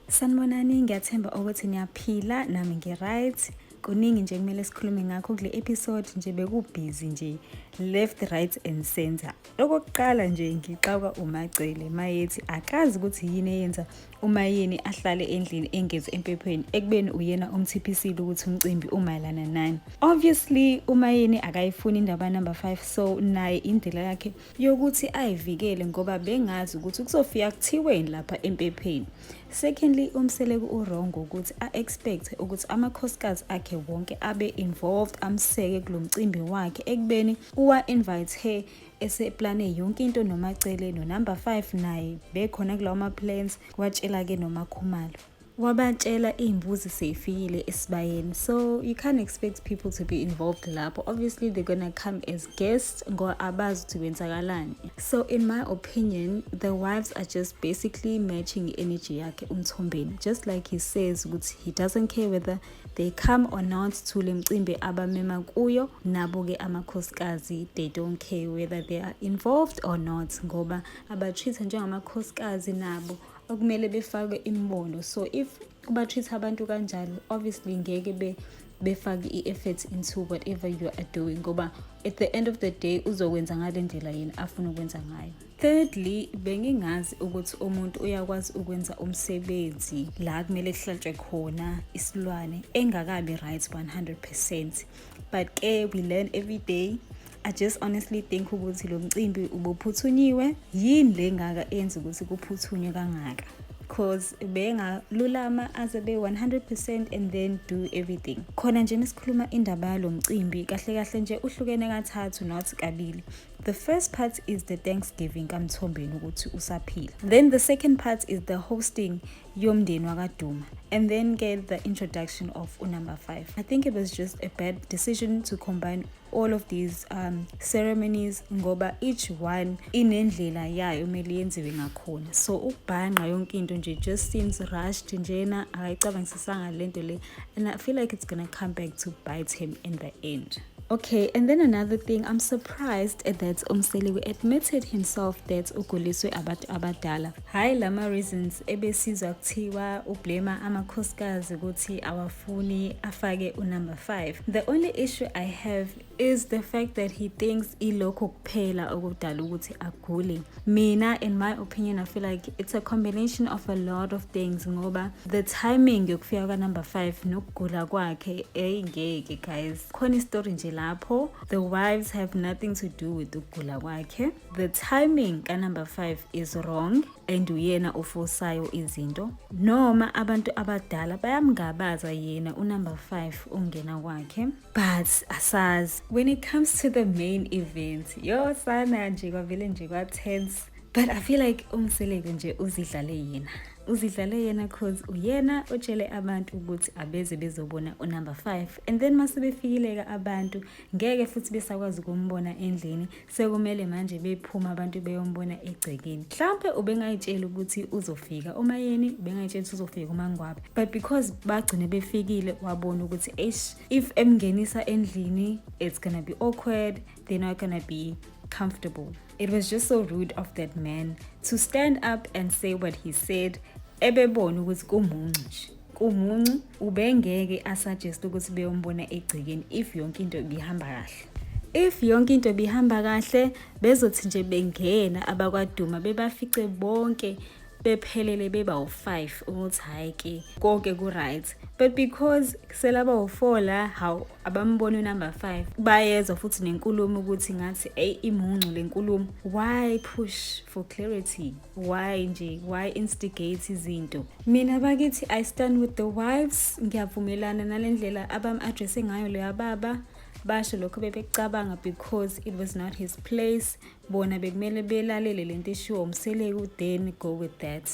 Sanibonani, ngiyathemba ukuthi niyaphila nami ngi-right. Kuningi nje kumele sikhulume ngakho kule episode nje bekubhizi nje left right and center. Okokuqala nje ngixawuka uMagcele mayethi akazi ukuthi yini eyenza uMayeni ahlale endlini engezi empephweni ekubeni uyena umthiphisile ukuthi umcimbi umayelana nani. Obviously uMayeni akayifuni indaba number 5 so naye indlela yakhe yokuthi ayivikele ngoba bengazi ukuthi kuzofika kuthiweni lapha empepheni secondly umseleku urongo ukuthi a-expect ukuthi amakhosikazi akhe wonke abe involved amseke kulo mcimbi wakhe ekubeni uwa-invite her eseplane yonke into nomacele nonumber 5 naye bekhona kulawo ma-plans watshela-ke nomakhumalo wabatshela iy'mbuzi sey'fikile esibayeni so you can't expect people to be involved lapho obviously they're gonna come as guests ngoba abazi ukuthi kwenzakalani so in my opinion the wives are just basically matching energy yakhe umthombeni just like he says ukuthi he doesn't care whether they come or not to le mcimbi abamema kuyo nabo-ke amakhosikazi they don't care whether they are involved or not ngoba abatreat-a njengamakhosikazi nabo okumele befakwe imibono so if kuba-treat abantu kanjalo obviously ngeke be befake i-effort into whatever you are doing ngoba at the end of the day uzokwenza ngale ndlela yini afuna ukwenza ngayo thirdly bengingazi ukuthi umuntu uyakwazi ukwenza umsebenzi la kumele kuhlatshwe khona isilwane engakabi right 100 percent but ke we learn every day I just honestly think ukuthi lo mcimbi ubuphuthunywe yini le ngaka enza ukuthi kuphuthunywe kangaka cause bengalulama aze be 100% and then do everything khona nje mesikhuluma indaba yalo mcimbi kahle kahle nje uhlukene kathathu not kabili the first part is the thanksgiving kamthombeni ukuthi usaphila then the second part is the hosting yomndeni wakaduma and then get the introduction of unumber 5 i think it was just a bad decision to combine all of these um, ceremonies ngoba each one inendlela yayo kumele yenziwe ngakhona so ukubhanqa yonke into nje just seems rushed njena akayicabangisisanga le nto le and i feel like it's gonna come back to bite him in the end Okay, and then another thing, I'm surprised that Umseleku admitted himself that uguliswe abantu abadala. Hayi lama reasons ebesizwa kuthiwa ublema amakhosikazi ukuthi awafuni afake unumber 5. The only issue I have is the fact that he thinks ilokho kuphela okudala ukuthi agule. mina in my opinion i feel like it's a combination of a lot of things ngoba the timing yokufika kwanumber 5 nokugula kwakhe eyi ngeke guys khona istory nje lapho the wives have nothing to do with ukugula kwakhe the timing kanumber 5 is wrong and uyena ofosayo izinto noma abantu abadala bayamngabaza yena unumber 5 ongena kwakhe but asazi when it comes to the main event yo sana nje kwavele nje kwa-tense but i feel like umseleku nje uzidlale yena uzidlale yena cause uyena otshele abantu ukuthi abeze bezobona unumber 5 and then mase befikileka abantu ngeke futhi besakwazi ukumbona endlini sekumele manje bephuma abantu beyombona egcekeni mhlawumpe ubengayitshela ukuthi uzofika umayeni ubengayitshela ukuthi uzofika umangwabe but because bagcine befikile wabona ukuthi eish if emngenisa endlini it's gonna be awkward they're not gonna be comfortable it was just so rude of that man to stand up and say what he said ebebona ukuthi kumuncu nje kumuncu ubengeke asuggest ukuthi beyombona egcekeni if yonke into ibihamba kahle if yonke into ibihamba kahle bezothi nje bengena abakwaduma bebafice bonke bephelele beba u-5 ukuthi hhayi ke konke ku-right but because selaba u-4 la hawu abamboni unumber 5 bayezwa futhi nenkulumo ukuthi ngathi eyi imuncu le nkulumo why push for clarity why nje why instigate izinto mina bakithi i stand with the wives ngiyavumelana nale ndlela abam-addresse ngayo leya baba basho lokho bebecabanga because it was not his place bona bekumele belalele le nto eshiwo umseleku then go with that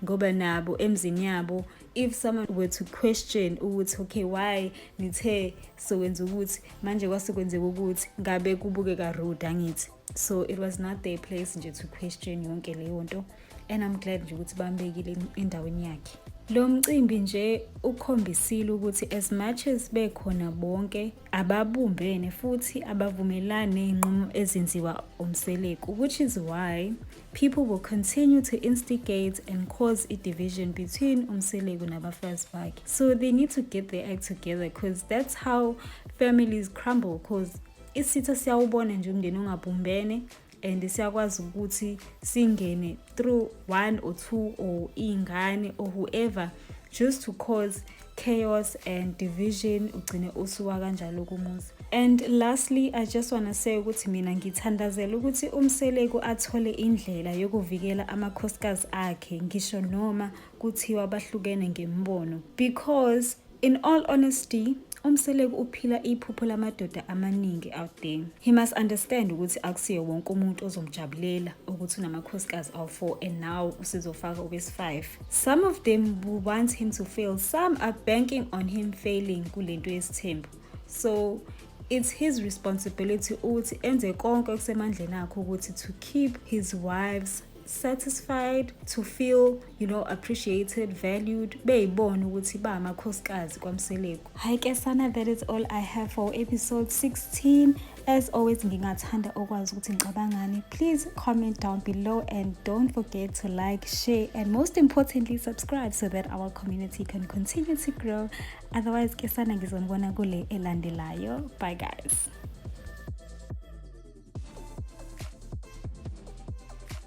ngoba nabo emzini yabo if someone were to question ukuthi okay why nithe sokwenza ukuthi manje kwase kwenzeka ukuthi ngabe kubukeka rude angithi so it was not their place nje to question yonke leyo nto and i'm glad nje ukuthi bambekile endaweni yakhe lo mcimbi nje ukhombisile ukuthi as much as bekhona bonke ababumbene futhi abavumelani ney'nqumo ezenziwa umseleku which is why people will continue to instigate and cause a division between umseleku nabafazi bakhe so they need to get their act together because that's how families crumble because isitha siyawubona nje umndeni ongabumbene and siyakwazi ukuthi singene through one or two or iy'ngane or whoever just to cause chaos and division ugcine usuwa kanjalo kumuzi and lastly i just wanna say ukuthi mina ngithandazela ukuthi umseleku athole indlela yokuvikela amakhosikazi akhe ngisho noma kuthiwa bahlukene ngembono because In all honesty, uMseleku uphila iphupho lamadoda amaningi out there. He must understand ukuthi akusiyo wonke umuntu ozomjabulela ukuthi unamakhosikazi awu-4 and now usizofaka obesi-5. Some of them will want him to fail, some are banking on him failing kule nto yesithembu. So it's his responsibility ukuthi enze konke okusemandleni akhe ukuthi to keep his wives satisfied to feel you know appreciated valued beyibona ukuthi ba amakhosikazi kwamseleku hi ke sana that is all i have for episode 16 as always ngingathanda okwazi ukuthi ngicabangani please comment down below and don't forget to like share and most importantly subscribe so that our community can continue to grow otherwise ke sana ngizonibona kule elandelayo bye guys